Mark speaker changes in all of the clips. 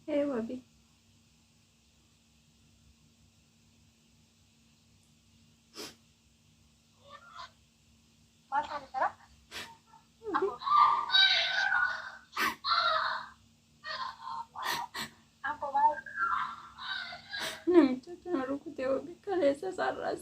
Speaker 1: Hey, Wabi. Namicha kana rukutee Wabi kaleessa sarras.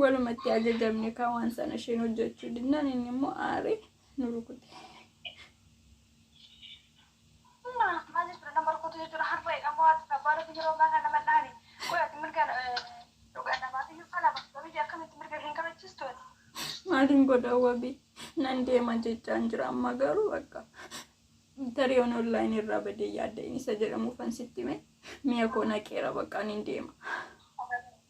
Speaker 1: Walumatti ajajamne kaa waan sana isheen hojjechuu dinnaan inni immoo aaree nu rukute. Amma maal jechuudha nama rukutu jechuudha harma jedhamu haati abbaan yeroo ammaa kana nama dhahani qoy ati mirga dhugaa namaaf iyyuu falama wabii akkamitti mirga hin kabachiistu ati. Maaliin godha wabii nan deema jechaan jira amma garuu bakka tarii on online irraa badee yaadda isa jedhamu fansitti mee mi'a koo naqeera bakka niin deema.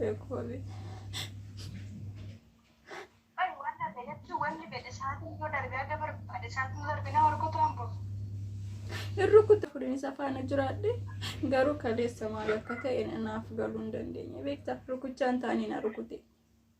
Speaker 1: Beekoolee. Ay, waan darbe jechuun wanni fedhe isaatiin yoo darbe akka barbaade isaatiin darbinaa warqoota hambur. Hin rukuta fudhanii isa faana jiraadhe garuu kaleessa maal akka ta'e naaf galuu hin dandeenye beektaa rukuchaan taanii na rukute.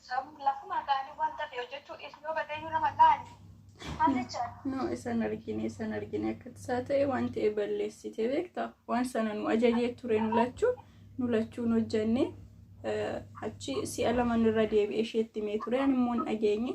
Speaker 1: Samu lafuma kaani wanta fi hojjechuu dhiisnu yoo badee iyyuu nama laali. Maal jechaa? No isan argine isan argine akkatti isaa ta'e waan ta'e balleessite beekta waan sana nu ajajee ture nu lachuu nu lachuun hojjenne achi si'a laman irra deebi'e isheetti mee ture ani immoo hin dhageenye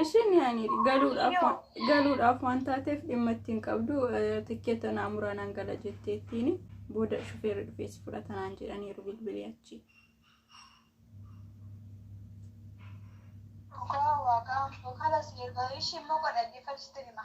Speaker 1: Ishiin yaani galuudhaaf galuudhaaf waan taateef dhimma ittiin qabdu tikkeeta naa muraa naan gala jetteettiin booda shufeerri dhufees fudhatanaan jedhaniiru bilbilii achi. Dhugaa waaqaa yookaan asii erga ishii immoo godhaggeeffachuu hima.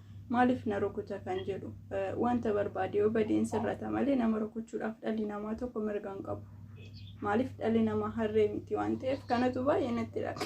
Speaker 1: maaliif na rukuta kan jedhu wanta barbaade yoo badeen sirrata malee nama rukuchuudhaaf dhalli namaa tokko mirga hin qabu. Maaliif dhalli namaa harree miti waan ta'eef kanatu baay'ee natti dhaqa.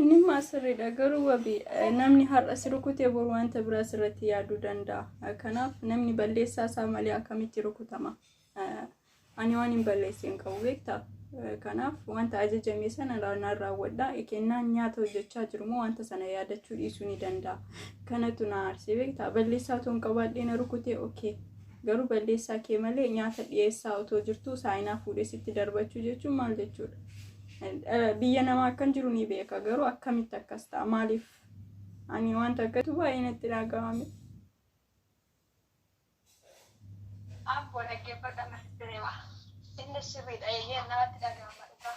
Speaker 1: Inni immoo sirriidha garuu wabi namni har'a si rukute bor wanta biraa sirratti yaaduu danda'a. Kanaaf namni balleessaa isaa malee akkamitti rukutama? Ani waan hin balleesse hin qabu beektaa? Kanaaf wanta ajajame sana raanaan raawwadha. Kennaan nyaata hojjechaa jiru immoo wanta sana yaadachuu dhiisuu ni danda'a. Kanatu na aarsee beektaa? Balleessaa otoo hin qabaadhee na rukutee okee. Garuu balleessaa kee malee nyaata dhiyeessaa otoo jirtuu saayinaa fuudhee sitti darbachuu jechuun maal jechuudha? Eh, Biyya namaa akkan jiru ni beeka garuu akkamitti akkas ta'a? Maaliif? Ani wanta akkatu baay'ee natti dhaga'ame. Abboo dhaggeeffadha mirti deema.
Speaker 2: Innis sirriidha eeyyeen namatti dhaga'ama dhugaa.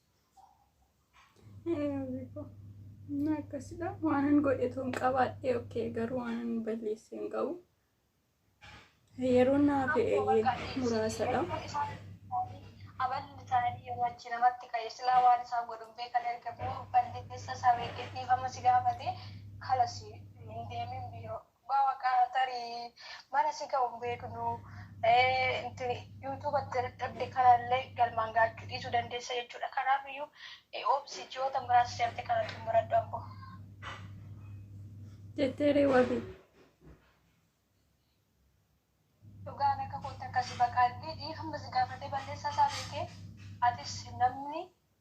Speaker 1: Akkasdha waanan godhetu hin qabaadhe okkee garuu waanan balleesse hin qabu. Yeroo naaf muraasadha.
Speaker 2: Aballi taa'anii yeroo achi namatti ka'e silaa waan isaan godhun beekan erga balleessa isaa beekee dhiifama si gaafate kalas hin deemin biiroo. Dhugaa waqaa tarii mana si ga'u hin beeknu intini yuutuuba itti dadhabde kanallee galmaan gaachuu dhiisuu dandeessa jechuudha kanaafiyyuu obsi ji'oota muraasa seerte kana xumuradhu ammoo.
Speaker 1: jettee ree wabii.
Speaker 2: Dhugaan akka kootti akkasi baqaa dhiidhii hamma si gaafatee balleessaa isaa beekee atis namni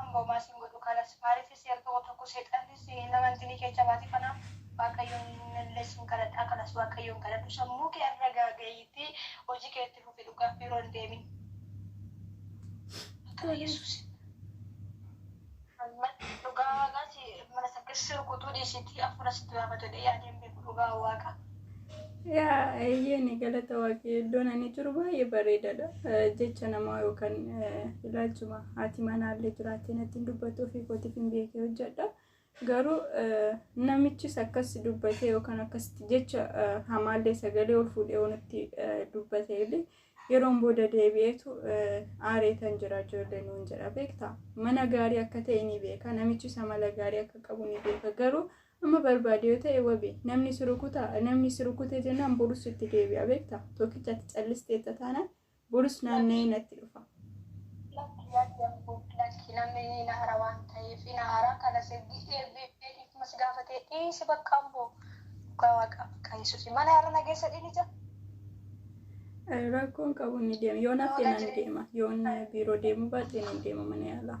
Speaker 2: An homaa sin godhu kalas. Maalifii si erga wa tokko seexanni si hin amantinii keecha baati kanaaf waaqayyoon illee sin kadhadhaa kalas waaqayyoon kadhadhu sammuu kee arragaa gayiitii hojii kee itti fufi dhugaa biiroo hin deemin maqaa yesuusin Amman dhugaa waaqaa si mana sakkessi rukutuu dhiisitii afuura sitti baafatu jedhee yaadeen beeku dhugaa waaqa. Yaa eeyyeen
Speaker 1: galata waaqee iddoon ani jiru baay'ee bareedaadha. Jecha namaa yookaan ilaalchuma haati manaallee jiraattee natti hin dubbatu ofii kootiif hin beekee hojjedha. Garuu namichis akkas dubbatee yookaan akkasitti jecha hamaallee sagalee ol fuudhee oonitti dubbatee illee yeroon booda deebi'eetu aareetan jira ijoollee nuun jedha beektaa. Mana gaarii akka ta'e ni beeka namichis amala gaarii akka qabu ni beeka garuu Amma barbaade yoo ta'e wabi. Namni si rukuta, namni si rukute jennaan borus sitti deebi'a beekta. Tokkicha ati callisteetta taanaan borus naanna'ee natti dhufa. Lakki lakki abboo
Speaker 2: lakki namni ni na hara waan ta'eef ina hara kana sirbi eebbee dhiifama si gaafatee dhiisi bakka abboo dhugaa waaqa bakka yesusi mana irra na geessa dhiinicha.
Speaker 1: Rakkoon qabu ni deema. Yoo naaf Waaqa ta'e nan jireenya. deema. Yoon biiroo deemuu baadhe nan deema mana yaalaa.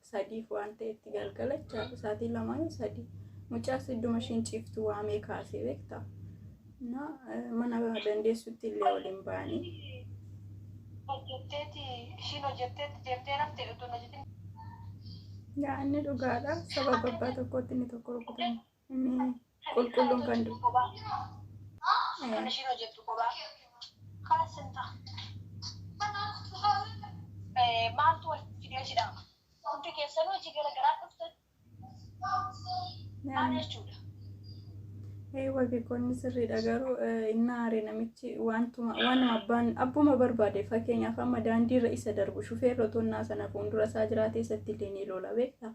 Speaker 1: sadiif waan ta'etti galgala jechaadha. Sa'aatii lamaa yoo sadii. Mucaas idduma ishiin ciiftu waamee kaasee beekta. Na mana dandeessutti illee waliin ba'anii. Hojjetteeti
Speaker 2: ishiin hojjetteetti deemtee rafte utuu hin
Speaker 1: hojjetin Yaa inni dhugaadha. Sababa abbaa tokkootti inni tokko rukutame. Inni qulqulluun kan du'u. Kophaa.
Speaker 2: Kan ishiin hojjettu kophaa. Kaan simta. Eh, Maaltu wal fidee si dhaaba? Hundi keessanuu hojii gara garaa dhuftan. Maal jechuudha?
Speaker 1: Ee wabii koonni sirriidha garuu eh, inni aare namichi wantuma waanuma abbaan abbuma barbaade fakkeenyaaf amma daandiirra isa darbu shufeerri otoo innaa sana fuuldura isaa jiraatee isatti illee ni loola beekta.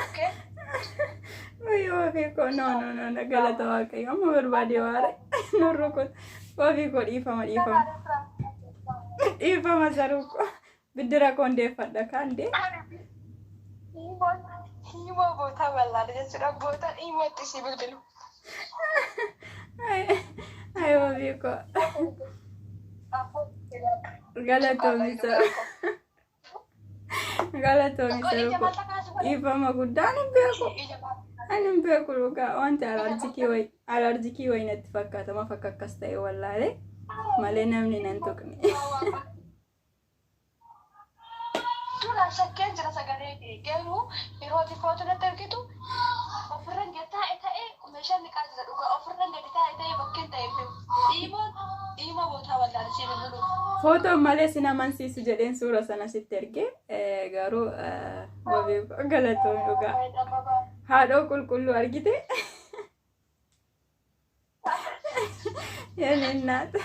Speaker 1: Okay? Wayii wabii koo no no no no galata waaqayyo amma barbaadee waare nu rukut wabii koo dhiifama dhiifama dhiifama saruu koo biddira koo hundeeffadha kaan dee Himoo bootaa bal'aadha jechuudha. Bootaan himoo itti si bilbilu. ayi wabii koo galatoomi saruu. Galatoomi Kun ija seeruu mataa kaasuu godha. dhiifama guddaa ani hin beeku. Ija mataa. Ani hin beeku dhugaa wanti alaarjikii wayi alaarjikii wayi natti fakkaata maaf akka akkas ta'e wallaalee malee namni nan tuqne. Duraan
Speaker 2: shakkeen jira sagalee kee garuu yeroo ati footo natti ergitu ofirran jattaa ta'ee Meshan niqaa jira dhugaa ofirran gadi taa'e ta'e bakken ta'e hin beeku iimoon iimoo bootaa wallaale sii bilbiluuf. Footoo malee sin
Speaker 1: amansiisu jedheen suura sana sitti erge garuu wabii galatoomi dhugaa haadhoo qulqulluu argite yeen innaat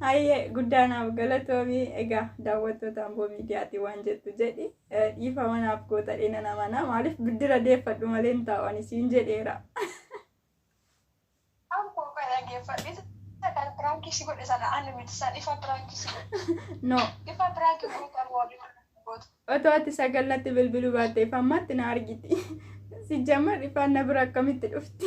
Speaker 1: hayyee guddaa naaf galatoomi egaa daawwattoota amboo miidiyaatii waan jettu jedhi Dhiifama naaf goota dheena namanaa maaliif biddira deeffadhu malee hin taa'u ani siin jedheera. An
Speaker 2: koo kan dhaggeeffadhe kan piraankii si godhe sana ani miti san ifa
Speaker 1: piraankii si godhe. No. Ifa
Speaker 2: piraankii gootan warri gootu. Otoo ati
Speaker 1: sagal natti bilbiluu baattee ifa ammaatti na argiti. Sijjamar ifaan na bira akkamitti dhufti?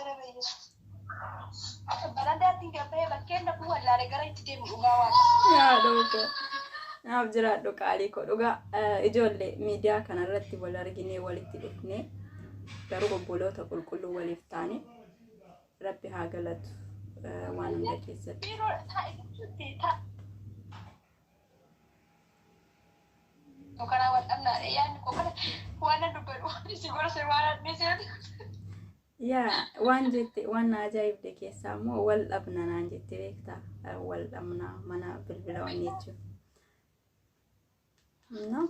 Speaker 2: Ere bayyesu. Akka barandaatti gabbee bakkeen dhabuu wallaale gara itti deemu dhugaa waan. Yaa dhooqoo.
Speaker 1: Naaf jiraadhu qaalii koo dhugaa eh, ijoollee miidiyaa kanarratti wal arginee walitti dhufnee garuu obboloota qulqulluu waliif taane rabbi haa galatu eh, waan hunda keessatti. Biiroo taa'e jechuutti taa'e.
Speaker 2: nu kanaa wal dhabnaadha yaadni koo kana waan nan dubbadhu waan isin gorse waan adnee seetu
Speaker 1: Yaa waan jette waan na ajaa'ibde keessaa immoo wal dhabna naan jette beektaa Eh, wal dhabna mana bilbila waan jechuun. No?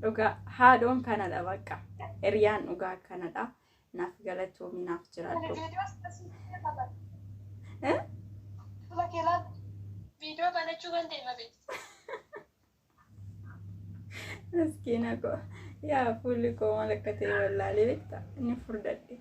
Speaker 1: Dhugaa haadhoon kanadha bakka hiriyaan dhugaa kanadha naaf galatoomi naaf jiraadhu.
Speaker 2: Viidiyoo banachuu kan ta'e malee.
Speaker 1: Miskiina koo yaa fuulli koo maal akka ta'e wallaalee beekta ni furdadhe.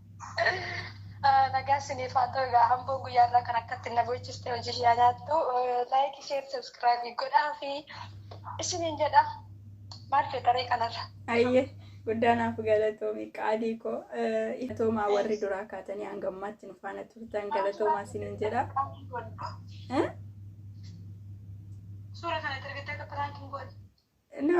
Speaker 2: Nagaa isiniif haa ta'u egaa hamboon guyyaa irraa kan akkatti na boochiste hojii kiyyaa nyaattu laayikii sheer sabskiraabii godhaa fi isiniin jedha maal feetaree kanarra. Ayyee
Speaker 1: guddaa naaf galatoomi qaalii koo galatoomaa warri duraa kaatanii hanga ammaatti nu faana turtan galatoomaa isiniin jedha. Suura kana erga ta'e
Speaker 2: akka piraankii godhe.